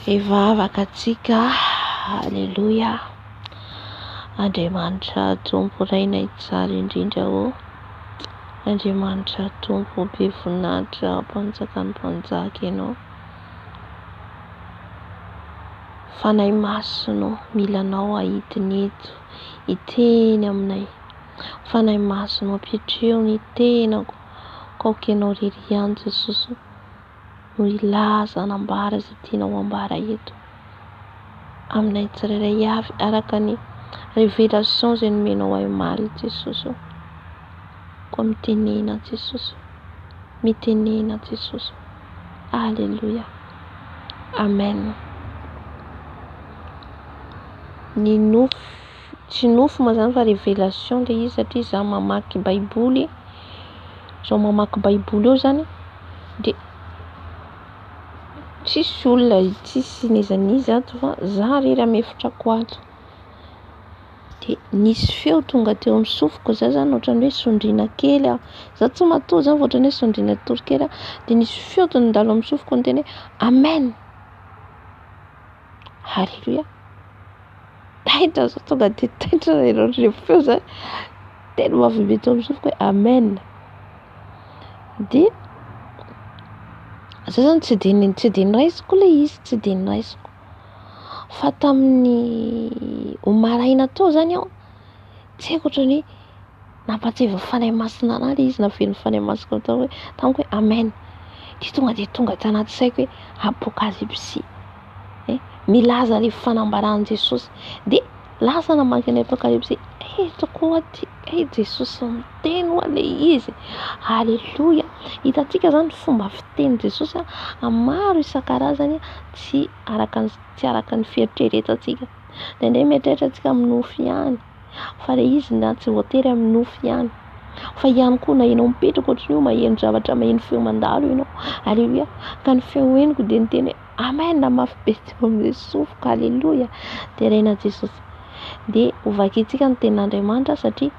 Hivavaka antsika, Aleloia, Andriamanitra Tompo Reina Tsara indrindra ô, Andriamanitra Tompo be voninahitra Mpanjakan'ny Mpanjaka Ianao, Fanahy Masina ô, mila Anao aho hidina eto, hiteny aminay. Fanahy Masina ô, ampitrio ny tenako, ka aoka Ianao irery ihany Jesosy no hilaza, hanambara izay tianao hambara eto, aminay tsirairay avy, araka ny révélation izay nomenao ahy omaly Jesosy ô. Koa mitenena Jesosy ô, mitenena Jesosy ô. Aleloia Amen Ny nofo tsy nofo moa zany fa révélation le izy satria za mamaky baiboly zao mamaky baiboly eo zany de tsisy olona tsisy n'iza n'iza ato fa za rery amy efitrako ato. dia nisy feo tonga teo amin'ny sofiko, zah zany ohatran'ny hoe sondriana kely aho, zah tsy matoa zah fa ohatran'ny hoe sondriana kitory kely aho, dia nisy feo tonga nandalo amin'ny sofiko niteny hoe amen, haleloia, taitra zah tonga dia taitra ilay feo zany, tena mavy be teo amin'ny sofiko hoe amen, dia zah zany tsy dia niraisiko ilay izy, tsy dia niraisiko. fa tamin'ny omaly maraina teo izany aho tsy haiko ohatran'ny hoe nampahatsiahy ny Fanahy Masina ahy ilay izy navelin'ny Fanahy Masina tao hoe tamiko hoe amen dia tonga dia tonga tanaty saiko hoe apokalipsy, milaza ilay fanambaran'i Jesosy dia Lasa namaky ny Apokalypsy eto koa aty e! Jesosy miteny ho'a le izy aleloia! Hitantsika zany ny fomba fiteny Jesosy a maro isan-karazany tsy araka ny tsy araka ny fieritreretantsika, ndraindray mieritreritra antsika amin'ny nofo ihany fa le izy na tsy voatery amin'ny nofo ihany fa ihany koa na ianao mipetraka ohatry ny hoe maheno zavatra maheno feo mandalo ianao aleloia ka ny feo henoko dia niteny hoe Amen mafy be tsy vao milesofoka aleloia terena Jesosy dia ho vakintsika ny tenin'Andriamanitra satria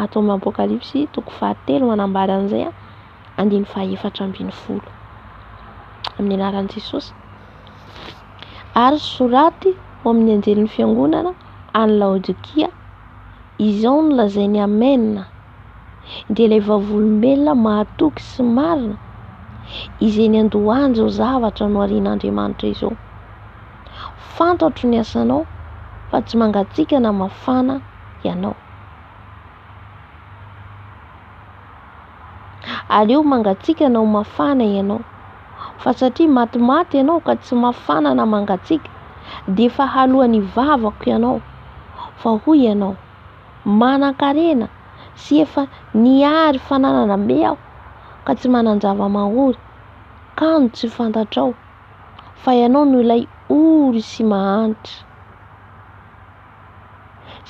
ato amin'ny apokalypsy toko fahatelo manambara an'izay andiny fahefatra ambin'ny folo amin'ny anaran'i Jesosy ary soraty ho amin'ny anjelin'ny fiangonana any Laodikia izao no lazainy amen dia ilay vavolombelona mahatoky sy marina izay niandohany izao zavatra noharian'Andriamanitra izao. Fantatro ny asanao fa tsy mangatsiaka na mafana ianao. Aleo mangatsiaka na ho mafana ianao. Fa satria matimaty ianao ka tsy mafana na mangatsiaka dia efa haloan'ny vavako ianao fa hoy ianao manan-karena sy efa nihary fananana be aho ka tsy manan-java-mahory, kanjo tsy fantatrao fa ianao no ilay ory sy mahantra,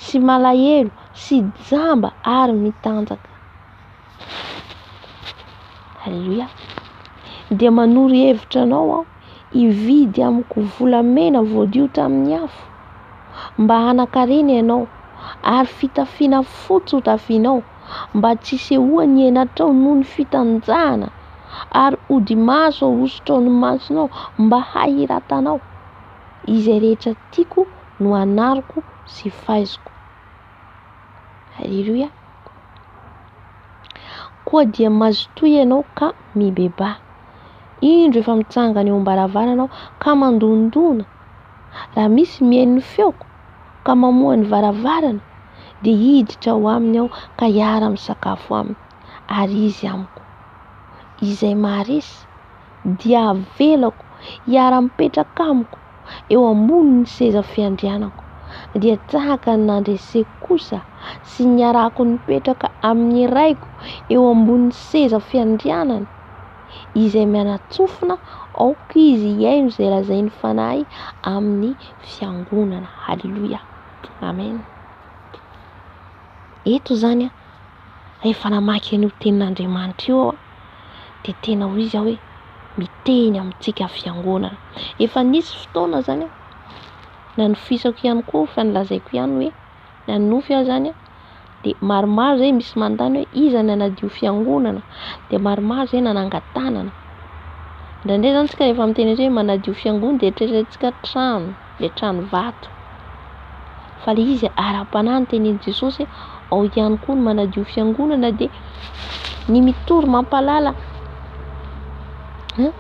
sy malahelo sy jamba ary mitanjaka. Alléluia. Dia manoro hevitra anao aho. hividy amiko volamena voadio tamin'ny afo, mba hanan-karena ianao, ary fitafiana fotsy ho tafianao, mba tsy hisehoan'ny henatrao noho ny fitanjahana, ary odi-maso ahosotra ao ny masonao, mba hahiratanao. Izay rehetra tiako no anariko sy faiziko. Aleloia. Koa dia mazotoa ianao ka mibebaha. Indro efa mitsangana eo am-baravarana aho ka mandondona. Raha misy mihaino ny feoko ka mamoha ny varavarana dia hiditra ao aminy aho ka hiara-misakafo aminy ary izy amiko. Izay maharesy dia avelako hiara-mipetraka amiko eo ambonin'ny seza fiandrianako dia tahaka ny nandreseko kosa sy niarako nipetraka amin'ny Raiko eo ambonin'ny seza fiandrianany. izay mianatsofina aoka izy hihaino izay lazain'ny Fanahy amin'ny fiangonana. Haleloia. Amen. Eto izany a, rehefa namaky an'io tenin'Andriamanitra io aho, dia tena ho izy aho hoe miteny amintsika fiangonana. Efa nisy fotoana izany a, nanofisako ihany koa fa nolazaiko ihany hoe. na ny nofy aza any dia maromaro izay misy manontany hoe iza no hanadio fiangonana dia maromaro izay nanangan-tanana indraindray izany tsika rehefa miteny hoe manadio fiangonana dia eritreretintsika trano le trano vato fa le izy ara-panahy ny tenin' Jesosy ao ihany koa ny manadio fiangonana dia ny mitory mampahalala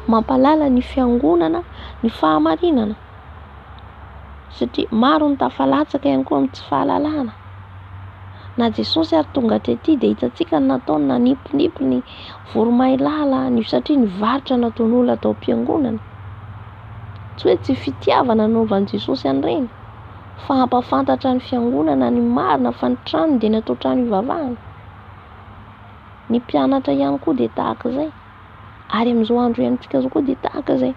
mampahalala ny fiangonana ny fahamarinana satria maro ny tafalatsaka ihany koa amin'ny tsy fahalalana. Na Jesosy ary tonga tety dia hitantsika ny nataony nanipinipy ny voromailala ny satria ny varotra nataon'olona tao am-piangonana. Tsy hoe tsy fitiavana nanaovan'i Jesosy an'ireny fa hampafantatra ny fiangonana ny marina fa ny trano dia natao trano ivavahana. Ny mpianatra ihany koa dia tahaka izay. Ary amin'izao andro iainantsika izao koa dia tahaka izay.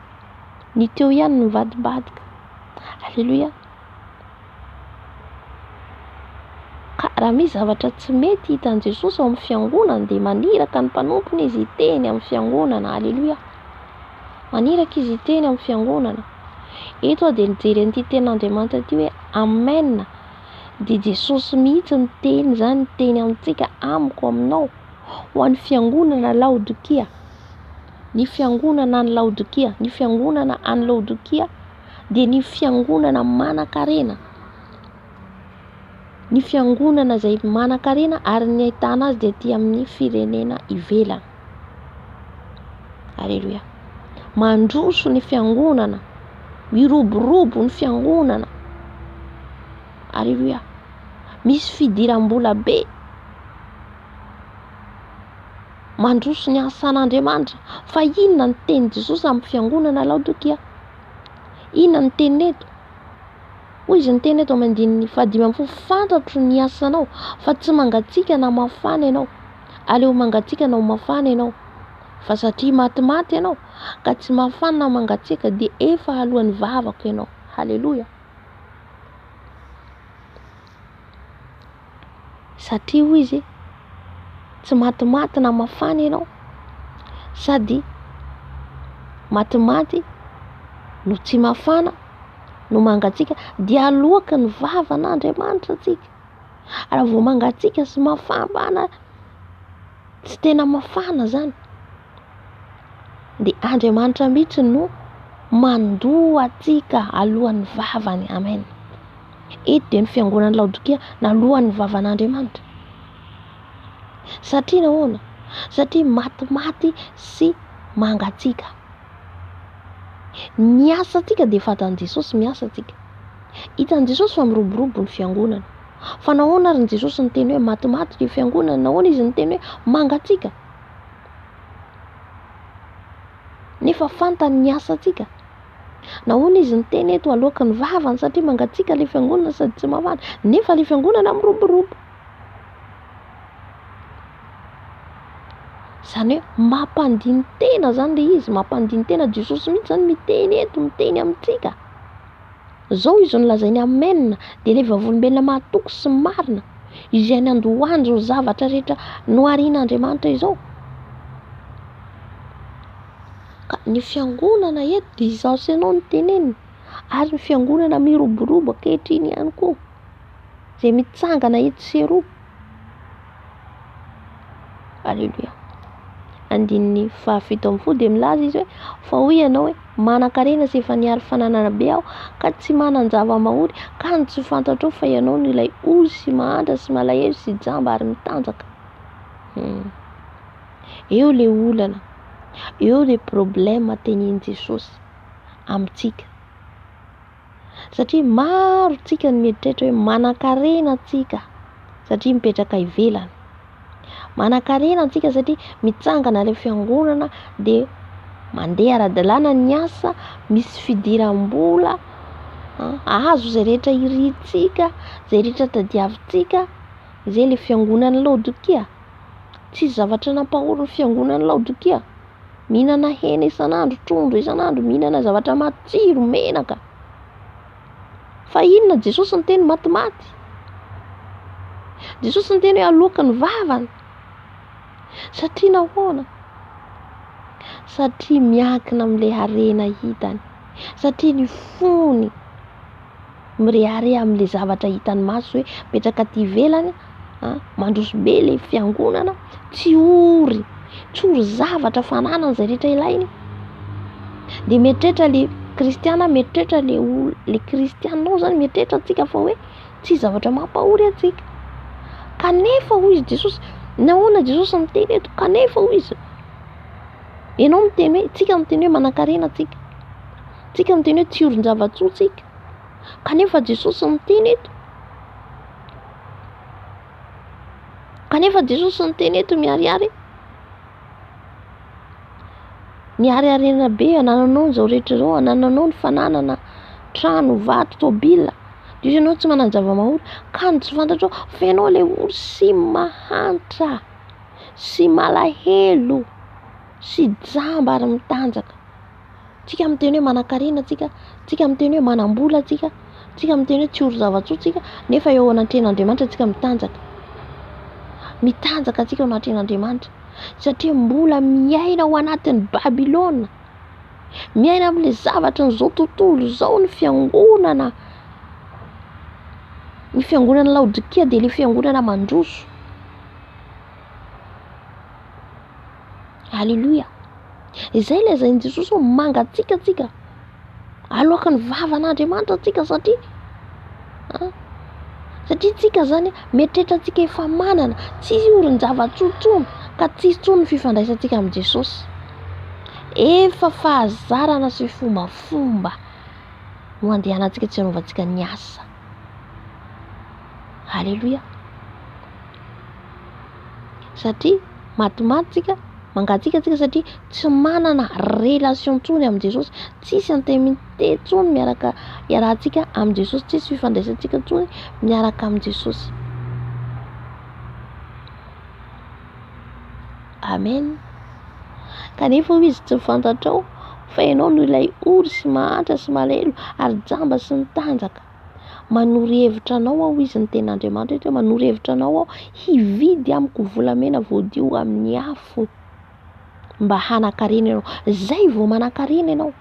Ny teo ihany no nivadibadika. Aleloia. Ka raha misy zavatra tsy mety hitan'i Jesosy ao amin'ny fiangonana dia maniraka ny mpanompony izy hiteny amin'ny fiangonana. Aleloia. Maniraka izy hiteny amin'ny fiangonana. Eto aho dia nijery an'ity tenin'Andriamanitra ity hoe Amen. Dia Jesosy mihitsy ny teny izany teny amintsika amiko aminao ho an'ny fiangonana Laodikia. ny fiangonana any Laodikia, ny fiangonana any Laodikia dia ny fiangonana manan-karena, ny fiangonana izay manan-karena ary ny ahitana azy dia aty amin'ny firenena ivelany. Aleloia. Mandroso ny fiangonana, miroborobo ny fiangonana. Aleloia. Misy fidiram-bola be mandroso ny asan'Andriamanitra. Fa inona ny teny Jesosy amin'ny fiangonana Laodikia? Inona ny teny eto? Hoy izy ny teny eto amin'ny andininy fahadimy amin'ny folo, fantatro ny asanao, fa tsy mangatsiaka na mafana ianao. Aleo mangatsiaka na ho mafana ianao. Fa satria matimaty ianao, ka tsy mafana na mangatsiaka, dia efa aloan'ny vavako ianao. Haleloia! satria hoy izy tsy matimaty na mafana ianao sady matimaty no tsy mafana no mangatsiaka dia aloaky ny vavan'Andriamanitra antsika ary vao mangatsiaka sy mafana tsy tena mafana zany dia Andriamanitra mihitsy no mandoa antsika alohan'ny vavany amen. Eto dia ny fiangonan'i Laodikia naloan'ny vavan'Andriamanitra. Satria nahoana? Satria matimaty sy mangatsiaka. Ny asantsika dia fatan'i Jesosy miasa antsika. Hitan'i Jesosy fa miroborobo ny fiangonana. Fa nahoana ary ny Jesosy niteny hoe matimaty ny fiangonana? Nahoana izy niteny hoe mangatsiaka? Nefa fantany ny asantsika. Nahoana izy niteny eto aloaky ny vavany satria mangatsiaka ilay fiangonana sady tsy mafana nefa ilay fiangonana miroborobo. Izany hoe mampandiny tena izany ilay izy, mampandiny tena Jesosy mihitsy izany miteny eto, miteny amintsika. Izao izy no lazainy amen dia ilay vavolombelona mahatoky sy marina izay nandohany izao zavatra rehetra noharian'Andriamanitra izao. Ka ny fiangonana eto dia izaho sy ianao no tenenina ary ny fiangonana miroborobo ankehitriny ihany koa izay mitsangana etsy sy eroa. Aleloia. Andininy fahafito amin'ny folo dia milaza izy hoe fa hoy ianao hoe manan-karena sy efa niaro fananana be aho ka tsy manan-java-mahory ka ny tsy fantatrao fa ianao no ilay ozy sy mahantra sy malahelo sy jamba ary mitanjaka. Hmm. Eo le olana, eo le problema tenin Jesosy amintsika. Satria maro tsika ny mieritreritra hoe manankarena tsika satria mipetraka ivelany. Manankarena tsika satria mitsangana le fiangonana de mandeha ara-dalàna ny asa, misy fidiram-bola, azo zay rehetra irintsika, zay rehetra tadiavintsika, zay le fiangonan'i Laodikia. Tsisy zavatra nampahory ny fiangonan'i Laodikia. Mihinana hena isan'andro, trondro isan'andro, mihinana zavatra matsiro, menaka. Fa inona Jesosy niteny matimaty? Jesosy niteny hoe aloaka ny vavany. Satria nahoana? Satria miankina amin'ilay harena hitany. Satria ny fony mirehareha amin'ilay zavatra hitan'ny maso hoe mipetraka aty ivelany a, mandroso be ilay fiangonana, tsy ory, tsy ory zavatra fananana izay rehetra ilainy. Dia mieritreritra ilay kristiana, mieritreritra ilay olona, ilay kristiana ao izany, mieritreritra antsika fa hoe tsy zavatra mampahory antsika. Kanefa hoy izy Jesosy, nahoana Jesosy miteny eto? Kanefa hoy izy, ianao miteny hoe, tsika miteny hoe manankarena tsika, tsika miteny hoe tsy orin-java-tsoa tsika. Kanefa Jesosy miteny eto. Kanefa Jesosy miteny eto miharihary. Nihariharena be anananao izao rehetra izao, anananao ny fananana trano, vato, tôbila. Diso ianao tsy manana zava-mahory, ka ny tsy fantatrao fa ianao ilay ory sy mahantra sy malahelo sy jamba ary mitanjaka. Tsika miteny hoe manankarena tsika, tsika miteny hoe manambola tsika, tsika miteny hoe tsy ory zava-tsoa tsika nefa eo anatrehan'Andriamanitra tsika mitanjaka. Mitanjaka tsika eo anatrehan'Andriamanitra satria mbola miaina ao anatin'ny Babylona. Miaina amin'ilay zavatra an'izao tontolo izao ny fiangonana. Ny fiangonana Laodikia dia ilay fiangonana mandroso. Aleloia! Izay lazain'i Jesosy hoe mangatsiaka antsika, aloaka ny vavan'Andriamanitra antsika satria ah, satria tsika zany mieritreritra antsika efa manana, tsy orin-javatsoa tsony ka tsy hisy tsony ny fifandraisantsika amin'i Jesosy. Efa fahazarana sy fombafomba no andehanantsika tsy hanaovantsika ny asa. Aleloia! Satria matimaty tsika, mangatsiaka tsika satria tsy manana relation intsony amin'i Jesosy, tsisy antemite intsony miaraka iarahantsika amin'i Jesosy, tsisy fifandraisantsika intsony miaraka amin'i Jesosy. Amen. Kanefa hoy izy tsy fantatrao fa ianao no ilay ory sy mahantra sy malelo ary jamba sy ny tanjaka. Manoro hevitra anao aho, hoy izy ny teny Andriamanitra eto hoe manoro hevitra anao aho hividy amiko volamena voadio amin'ny afo mba hanan-karena ianao. Izay vao manan-karena ianao.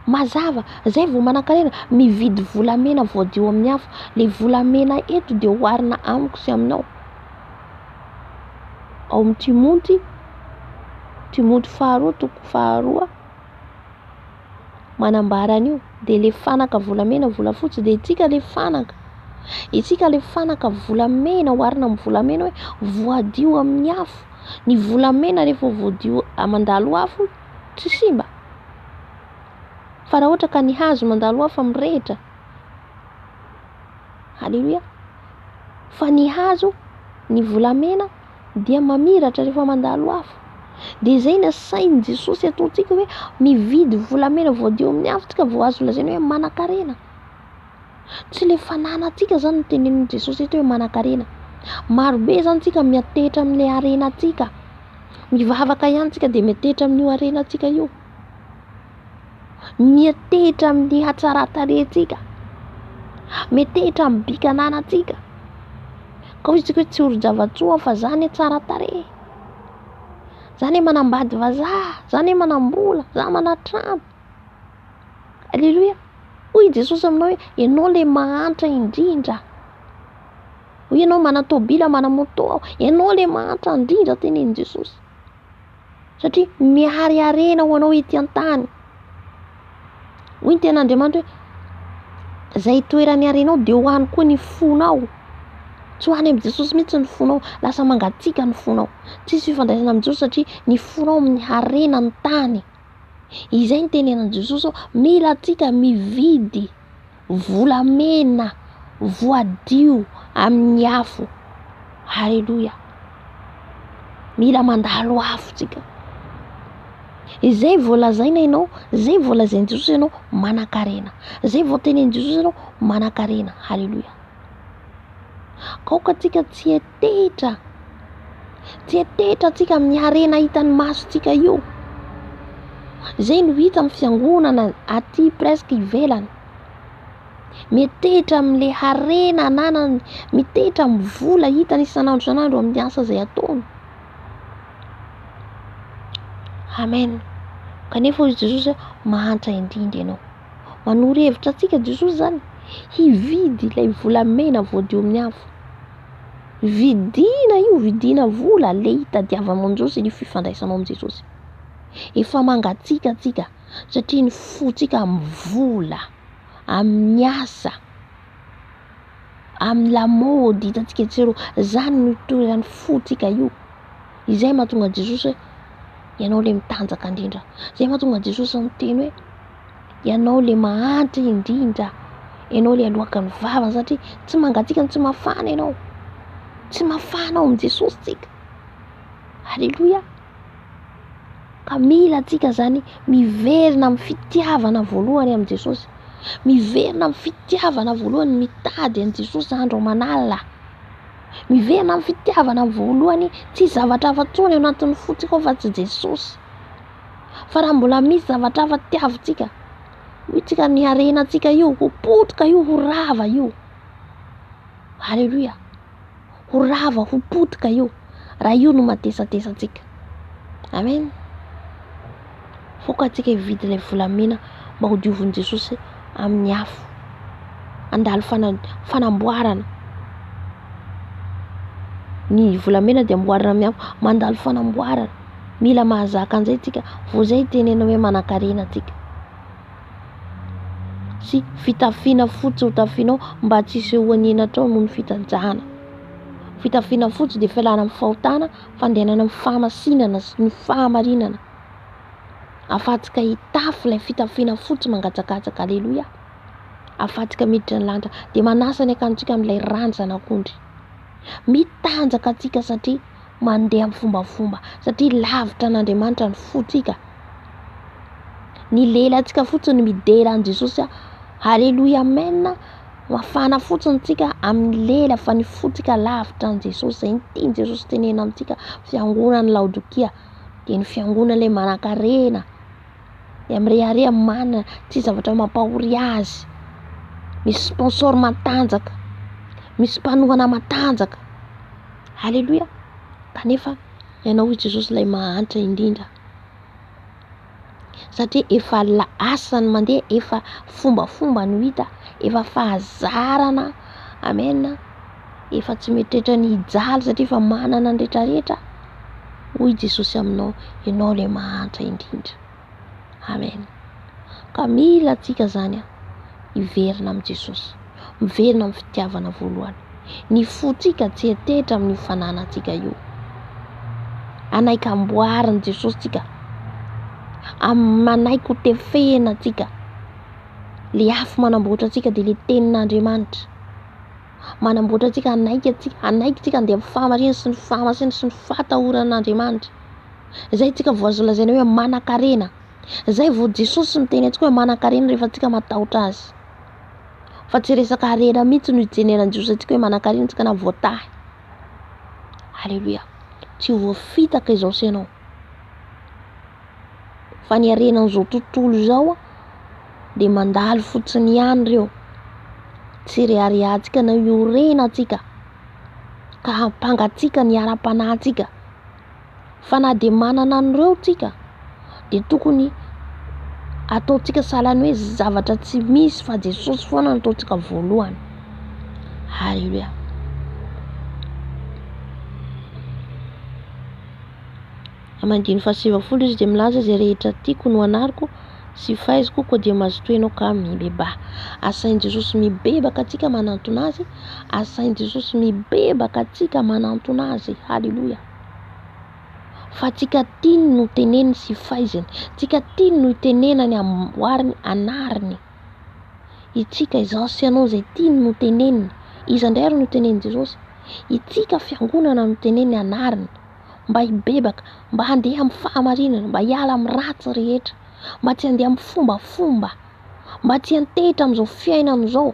Mazava, izay vao manan-karena, mividy volamena voadio amin'ny afo. Ilay volamena eto dia oharina amiko sy aminao. Ao amin'ny Timoty, Timoty faharoa, toko faharoa. manambara an'io dia le fanaka volamena volafotsy dia itsika le fanaka itsika le fanaka volamena oharina amin'ny volamena hoe voadio amin'ny afo ny volamena rehefa voadio mandalo afo tsy simba fa raha ohatra ka ny hazo mandalo afo mirehitra haleloia fa ny hazo ny volamena dia mamiratra rehefa mandalo afo. Dia izay ny asain'i Jesosy ataontsika hoe mividy volamena voadio amin'ny afo tsika vao azo lazaina hoe manankarena. Tsy ilay fananantsika izany no tenenin'i Jesosy eto hoe manankarena. Marobe izany tsika miantehitra amin'ilay harenantsika. Mivavaka ihany tsika dia miantehitra amin'io harenantsika io. Miantehitra amin'ny hatsaran-tarehintsika, miantehitra amin'ny bika ananantsika. Ka hoy isika hoe tsorin-javantsoa fa za anie tsara tarehy, za anie manambady vazaha, za anie manam-bola, za manan-trano. Aleloia! Hoy i Jesosy aminao hoe ianao ilay mahantra indrindra. Hoy ianao manan-tôbila, manan-môtô aho. Ianao ilay mahantra indrindra, hoy i Jesosy. Satria mihareharena ho anao ety an-tany. Hoy ny tenin'Andriamanitra hoe izay toerany harenao dia ho any koa ny fonao. Tsy ho any amin'i Jesosy mihitsy ny fonao, lasa mangatsiaka ny fonao. Tsisy fifandraisana amin'i Jesosy satria ny fonao amin'ny harena ny tany. Izay no tenenan'i Jesosy hoe mila antsika mividy. volamena voadio amin'ny afo. Aleloia. Mila mandalo afo tsika. Izay voalazaina ianao, izay voalazain'i Jesosy ianao manankarena. Izay voatenenin'i Jesosy ianao manankarena. Aleloia. Aoka tsika tsy. Tsetetra! Tsetetra antsika amin'ny harena hitan'ny masontsika io. Izay no hita amin'ny fiangonana aty presque ivelany. Metehitra amin'ilay harena ananany, metehitra amin'ny vola hitany isan'andro isan'andro amin'ny asa izay ataony. Amen. Kanefa hoy Jesosy mahantra indrindra ianao. Manoro hevitra antsika Jesosy izany hividy ilay volamena voadio amin'ny afo. Vidina io, vidina vola le hitadiavanao an'i Jesosy sy le fifandraisanao amin'i Jesosy. Efa mangatsiaka tsika satria ny fotsika amin'ny vola, amin'ny asa, amin'ny lamaody hitantsika etsy sy eroa, zany no itoeran'ny fotsika io, izay mahatonga an'i Jesosy hoe ianao le mitanjaka indrindra, zay mahatonga an'i Jesosy miteny hoe. Ianao ilay mahantra indrindra. Ianao ilay aloaka ny vavany satria tsy mangatsiaka no tsy mafana ianao. Tsy mafana ao amin'i Jesosy isika. Aleloia. Ka mila antsika izany miverina amin'ny fitiavana voalohany amin'i Jesosy. Miverina amin'ny fitiavana voalohany mitady an'i Jesosy andro aman'alina. Miverina amin'ny fitiavana voalohany tsy zavatra hafa intsony ao anatin'ny fontsika ao fa tsy Jesosy. Fa raha mbola misy zavatra hafa tiavintsika, hoy tsika ny harenantsika io ho potika io, ho rava io. Aleloia. Ho rava, ho potika io. Raha io no matesatesa antsika. Amen. Foka antsika hividy ilay volamena mba hodiovin'i Jesosy amin'ny afo. Andalo fanamboarana ny volamena dia amboarina amin'ny afo mandalo fanamboarana Mila mahazaka an'izay tsika vao izay itenena hoe manankarena tsika. Sy fitafiana fotsy ho tafianao mba tsy hisehoan'ny henatrao noho ny fitanjahana. Fitafiana fotsy dia fialana amin'ny fahotana, fandehanana amin'ny fahamasinana sy ny fahamarinana. Afatsika hitafy ilay fitafiana fotsy mangatsakatsaka, aleloia. Afatsika miditra ny lanitra dia manasa ny akantsika amin'ilay ranjan'akondry. Mitanjaka tsika satria mandeha amin'ny fombafomba satria lavitra an'Andriamanitra ny fontsika. Ny lelantsika fotsiny no midera an'i Jesosy. Haleloia amen. Mafana fotsiny tsika amin'ny lela fa ny fontsika lavitra an'i Jesosy. Izay ny tian'i Jesosy tenena amintsika fiangonan'i Laodokia dia ny fiangonana ilay manankarena. dia mirehareha amin'ny marina tsy zavatra mampahory azy, misy sponsor matanjaka, misy mpanohana matanjaka, aleloia kanefa ianao i Jesosy ilay mahantra indrindra satria efa lasa ny mandeha efa fombafomba no hita efa fahazarana amen. Efa tsy mieritreritra ny hijaly satria efa manana ny rehetrarehetra hoy Jesosy aminao, ianao ilay mahantra indrindra. Amen. Ka mila antsika izany an, hiverina amin'i Jesosy, miverina amin'ny fitiavana voalohany. Ny fontsika tsy hetetra amin'io fananantsika io. Anaiky amboarin'i Jesosy tsika, manaiky ho tefehina antsika. Le afo manamboatra antsika dia le tenin'Andriamanitra. manamboatra antsika hanaiky antsika, hanaiky antsika handeha amin'ny fahamarina sy ny fahamasina sy ny fahatahoran'Andriamanitra. Izay antsika vao azo lazaina hoe manan-karena. Izay vao Jesosy miteny antsika hoe manan-karena rehefa antsika matahotra azy. Fa tsy resaka harena mihitsy no ijeneran'ny Jiosy antsika hoe manan-karena antsika na voatahy. Alléluia. Tsy ho voafitaka izao sy ianao. fa ny harena an'izao tontolo izao an dia mandalo fotsiny ihany ireo tsy reharehantsika na io rena antsika ka hampanga antsika ny ara-panahintsika fa na dia manana an'ireo tsika dia tokony ataontsika sahalan'ny hoe zavatra tsy misy fa Jesosy foana no ataontsika voalohany haleloia Amin'ny andininy fahasivifolo izy dia milaza, Izay rehetra tiako no anariko, sy faiziko koa dia mazotoa ianao ka mibebaha. Asain'i Jesosy mibebaka antsika manantona Azy, asain'i Jesosy mibebaka antsika manantona Azy, haleloia. Fa tsika tiany no teneniny sy faiziny, tsika tiany no itenenany amboariny anariny. Itsika izao sy ianao izay tiany no teneniny, iza indray ary no tenenin'i Jesosy? Itsika fiangonana no teneniny anariny. mba hibebaka, mba handeha amin'ny fahamarinana, mba hiala amin'ny ratsy rehetra, mba tsy handeha amin'ny fombafomba, mba tsy hantehitra amin'izao fiainana izao,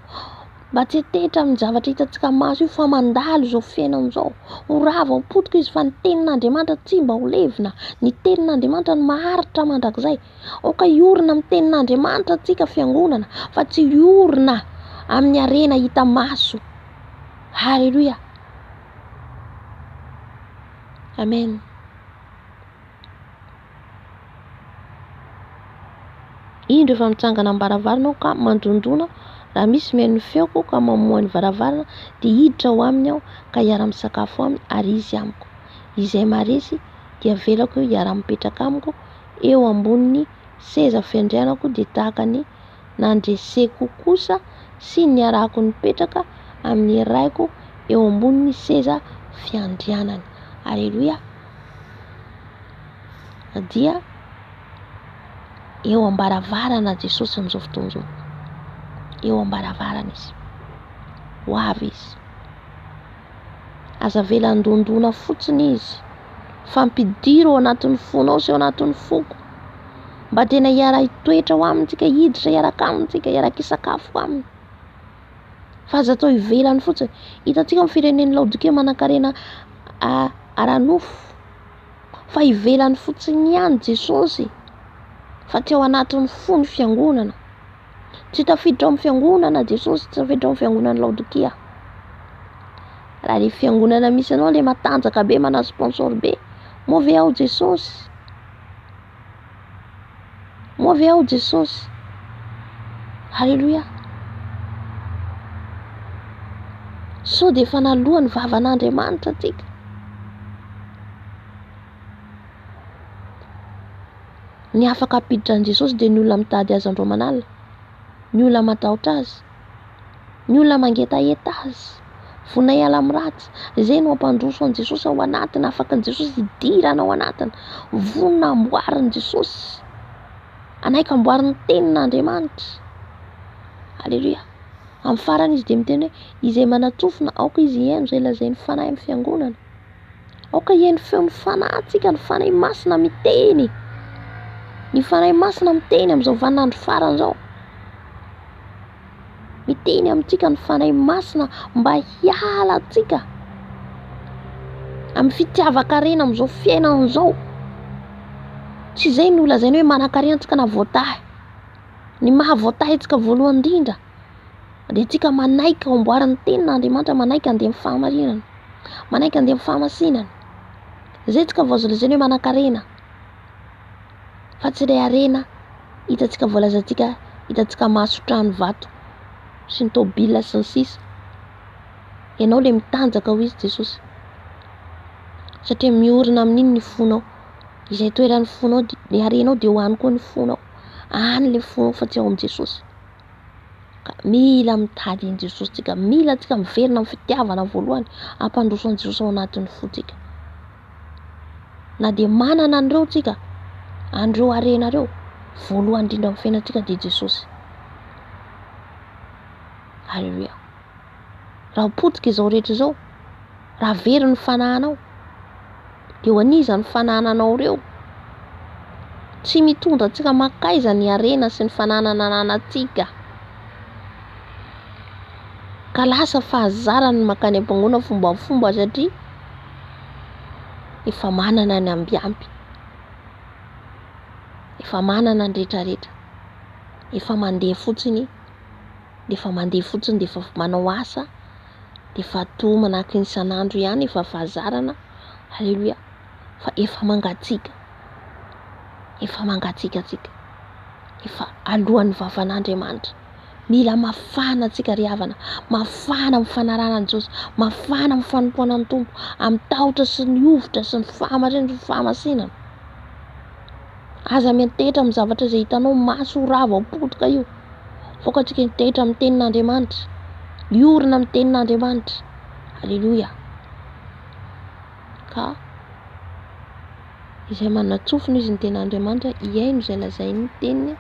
mba tsy hantehitra amin'ny zavatra hitantsika maso io fa mandalo izao fiainana izao. Ho rava ho potika izy fa ny tenin'Andriamanitra tsy mba ho levona, ny tenin'Andriamanitra no maharitra mandrakizay. Aoka hiorina amin'ny tenin'Andriamanitra antsika fiangonana fa tsy hiorina amin'ny harena hita maso. Haleloia. Amen. Indro efa mitsangana amin'ny varavarana aho ka mandondona raha misy mihaino ny feoko ka mamoha ny varavarana dia hiditra ho aminy aho ka hiara-misakafo aminy ary izy amiko. Izay maharesy dia avelako eo hiara-mipetraka amiko eo ambonin'ny seza fiandrianako dia tahaka ny nandreseko kosa sy niarahako nipetraka amin'ny Raiko eo ambonin'ny seza fiandrianany. Aleloia! Dia eo am-baravarana Jesosy amin'izao fotoana izao. Eo am-baravarana Izy. Ho avy Izy. Aza avela handondona fotsiny Izy. fa ampidiro ao anatin'ny fonao sy ao anatin'ny foko mba tena hiara-hitoetra ao aminy tsika, hiditra hiaraka aminy tsika, hiara-kisakafo aminy fa aza atao ivelany fotsiny. Hitantsika amin'ny firenen'i Laodikia manankarena ara-nofo fa ivelany fotsiny ihany Jesosy fa tsy ao anatin'ny fo ny fiangonana. Tsy tafiditra ao amin'ny fiangonana Jesosy, tsy tafiditra ao amin'ny fiangonan'i Laodikia. Raha ilay fiangonana misy anao ilay matanjaka be, manana sponsor be, moa ve ao Jesosy? Moa ve ao Jesosy? Alléluia. Sao dia efa naloa ny vavan'Andriamanitra antsika. Ny afaka hampiditra an'i Jesosy dia ny olona mitady Azy andro aman'alina, ny olona matahotra Azy, ny olona mangetaheta Azy. Vonona hiala amin'ny ratsy. Izay no hampandroso an'i Jesosy ao anatiny, afaka an'i Jesosy hidirana ao anatiny. Vonona hamboarin'i Jesosy, hanaiky hamboary ny tenin'Andriamanitra. Aleloia. Amin'ny farany izy dia miteny hoe izay manatsofina aoka izy hihaino izay lazain'ny Fanahy amin'ny fiangonana. Aoka hihaino feo ny fanahintsika ny Fanahy Masina miteny. Ny Fanahy Masina miteny amin'izao vaninandro farany izao. Miteny amintsika ny Fanahy Masina mba hiala antsika amin'ny fitiavan-karena amin'izao fiainana izao. Tsy izay no lazaina hoe manan-karena antsika na voatahy. Ny maha voatahy antsika voalohany indrindra Andehantsika manaiky ho amboarin'ny tenin'ny Andriamanitra, manaiky handeha amin'ny fahamarinana, manaiky handeha amin'ny fahamasinana. Izay tsika vao lazaina hoe manan-karena, fa tsy ilay harena hitantsika voalazantsika, hitantsika maso, trano, vato sy ny tômôbila sy ny sisa. Ianao ilay mitanjaka hoy i Jesosy, satria miorina amin'iny ny fonao, izay toeran'ny fonao, ny harenao dia ho any koa ny fonao, any ilay fonao fa tsy ao amin'i Jesosy. ka mila mitady an'i Jesosy tsika, mila tsika miverina amin'ny fitiavana voalohany hampandroso an'i Jesosy ao anatin'ny fo tsika, na dia manana an'ireo tsika, an'ireo harena ireo, voalohany indrindra amin'ny fiainantsika dia Jesosy, Haleloia. Raha potika izao rehetra izao, raha very ny fanahinao, dia ho an'iza ny fanahinanao ireo? Tsy mitondra antsika mankaiza ny harena sy ny fananana ananantsika? Ka lasa fahazarana ny mankany am-pangoana fombafomba satria efa manana ny ambiamby, efa manana ny rehetrarehetra, efa mandeha fotsiny. dia efa mandeha fotsiny dia efa manao asa dia efa toa manahaka ny isan'andro ihany efa fahazarana aleloia fa efa mangatsiaka efa mangatsiaka antsika efa alohan'ny vavan'Andriamanitra mila mafana antsika ry havana mafana amin'ny fanarahana an'i Jesosy mafana amin'ny fanompoana ny Tompo amin'ny tahotra sy ny hovitra sy ny fahamarinana sy ny fahamasinana aza miantehitra amin'ny zavatra izay hitanao maso ho rava ho potika io Vokantsika hitaitra amin'ny tenin'Andriamanitra. Miorina amin'ny tenin'Andriamanitra. Alléluia. Ka izay manatsofina izy ny tenin'Andriamanitra, hihaino izay lazain'ny teniny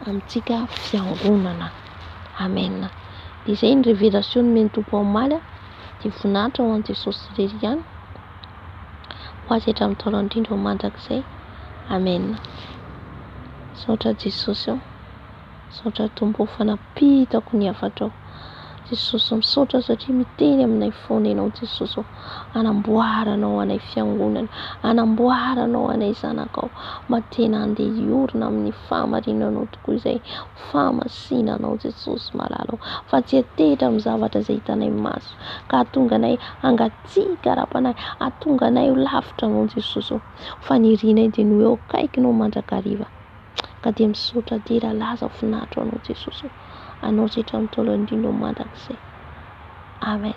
amintsika fiangonana. Amen. Dia izay ny révélation nomen'ny Tompo omaly. Dia voninahitra ho an'i Jesosy irery ihany. ho azy hatramin'ny taona indrindra ho mandrakizay Amen misaotra Jesosy ô misaotra Tompo ô fa nampitako ny hafatrao Jesosy ô misaotra satria miteny aminay foana ianao Jesosy ô anamboaranao anay fiangonana anamboaranao anay zanakao mba tena andeha hiorina amin'ny fahamarinanao tokoa izay fahamasinanao Jesosy malala ô fa tsy hetetra amin'ny zavatra izay hitanay maso ka hahatonga anay hanga Tsy hikarapanay, hahatonga anay ho lavitra Anao Jesosy ô! Ho fanirianay dia ny hoe ho akaikinao mandrakariva. Ka dia misaotra dia raha laza ho finaritra Anao Jesosy ô! Anao Zetra Ntaolo Indrindra ô Mandrakizay. Amen.